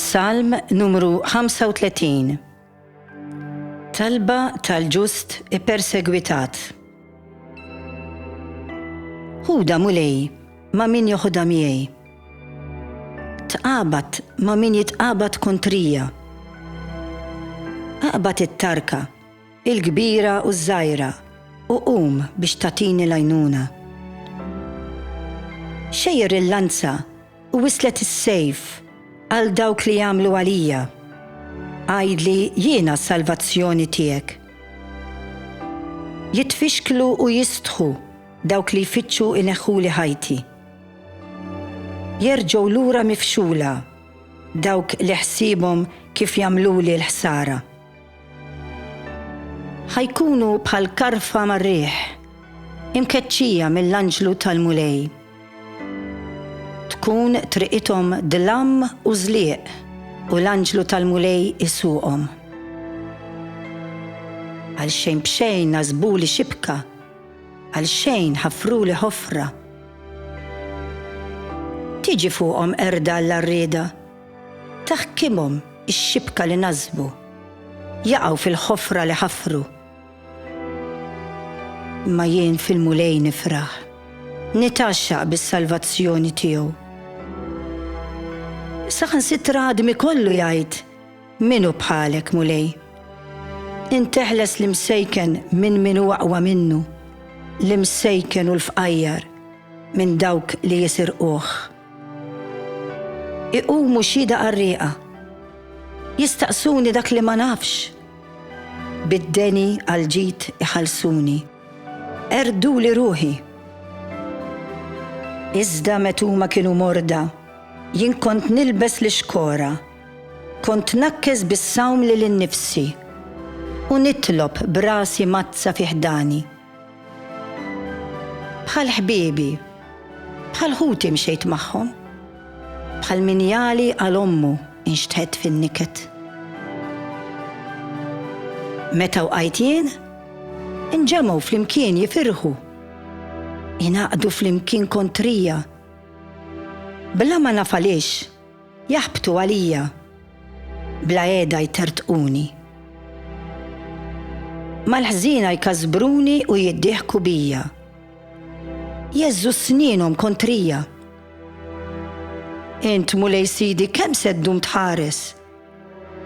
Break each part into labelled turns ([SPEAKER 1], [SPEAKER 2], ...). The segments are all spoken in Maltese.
[SPEAKER 1] Salm numru 35 Talba tal-ġust ippersegwitat. Huda mulej ma' min joħodha miegħi. Tqabad ma' min jitqabad kontrija. Aqbad it-tarka il-kbira u ż-żgħira, u qum biex tagħtini l-għajnuna. Xejjer il-lanza u wisslet is-sejf għal dawk li jagħmlu għalija, għidli jiena s-salvazzjoni tiegħek. Jitfixklu u jistħu dawk li jfittxu jneħħuli ħajti. Jerġgħu lura mifxula dawk li ħsiebhom kif jagħmluli l-ħsara. Ħa jkunu bħal karfa mar-riħ, imkeċċija mill-anġlu tal-Mulej. Tkun triqithom dlam u żlieq u l-anġlu tal-Mulej isuqhom. Għalxejn b'xejn nażbuli xibka, għalxejn ħaffruli ħofra. Tiġi fuqhom qerda għall-għarrieda Ta' ħkiemhom ix-xibka li nażbu, jaqgħu fil-ħofra li ħafru. Imma jien fil-Mulej nifraħ, nitgħaxxaq bis-salvazzjoni tiegħu. Saħansitra għadmi kollu jgħid, Min hu bħalek, Mulej? Int teħles l-imsejken minn min hu aqwa minnu, l-imsejken u l-fqajjar minn dawk li jisirquh. Iqumu xhieda qarrieqa. Jistaqsuni dak li ma nafx. Bid-deni għall-ġid iħallsuni. Qerrduli ruħi. Iżda met huma kienu morda, jien kont nilbes l-ixkora. Kont nakkes bis-sawm lil innifsi. U nitlob b'rasi mgħaddsa fi ħdani. Bħal ħbiebi, bħal ħuti mxejt magħhom, bħal min jagħli għal ommu nxtħet fin-niket. Meta wqajt jien, inġemgħu flimkien jifirħu, ingħaqdu flimkien kontrija, bla ma naf għaliex, Jaħbtu għalija, bla qiegħda jtertquni. Mal-ħżiena jkasbruni u jiddieħku bija. Jeżżu snienhom kontrija. Int, Mulej Sidi, kemm se ddum tħares?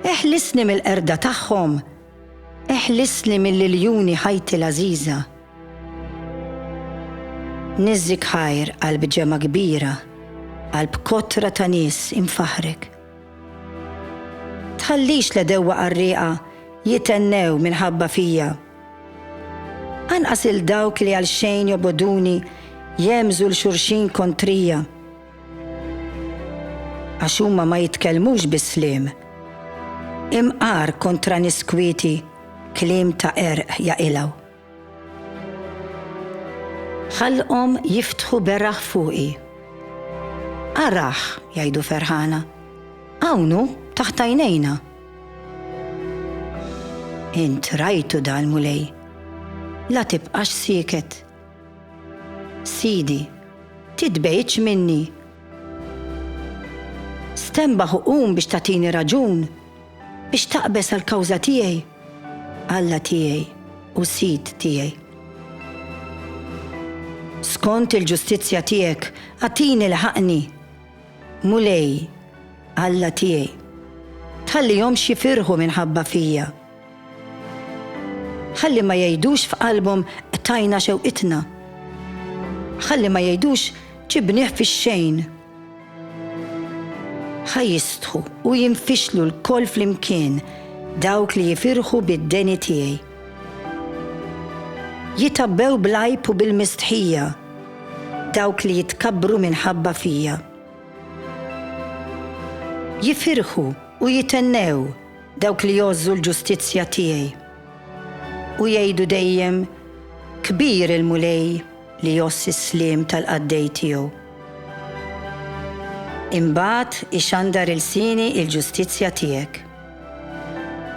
[SPEAKER 1] Eħlisni mill-qerda tagħhom, eħlisni mill-iljuni ħajti l-għażiża. Niżżik ħajr għal bġemgħa kbira, għal bkotra ta' nies imfaħħrek. Tħallix l-għedewwa qarrieqa jitennew minħabba fija. Anqas lil dawk li għal xejn jobogħduni jemżu l xulxin kontrija għax huma ma jitkellmux bis-sliem. Imqar kontra niskwieti kliem ta' erq jaqilgħu. Ħalqhom jiftħu beraħ fuqi. Araħ, jgħidu ferħana. Hawn hu, taħt għajnejna. Int rajtu dal mulej. La tibqax sieket. Sidi, titbejtx minni. Stembaħ u qum biex tagħtini raġun. Biex taqbeż għall-kawża tiegħi, Alla tiegħi u Sid tiegħi. Skont il-ġustizzja tiegħek agħtini lħaqni, Mulej, Alla tiegħi. Tħallihomx jifirħu minħabba fija. Ħalli ma jgħidux f'qalbhom qtajna xewqitna. Ħalli ma jgħidux ġibnieh fix-xejn. Ħa jistħu u jinfixlu lkoll flimkien dawk li jifirħu bid-deni tiegħi. Jitgħabbew bl-għajb u bil-mistħija dawk li jitkabbru minħabba fija. Jifirħu u jithennew dawk li jgħożżu l-ġustizzja tiegħi u jgħidu dejjem, Kbir il-Mulej! li jgħożż is-sliem tal-qaddej tiegħu. Imbagħad ixandar ilsieni l-ġustizzja tiegħek.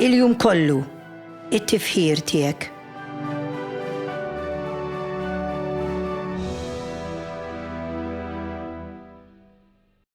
[SPEAKER 1] Il-jum kollu, it-tifħir tiegħek.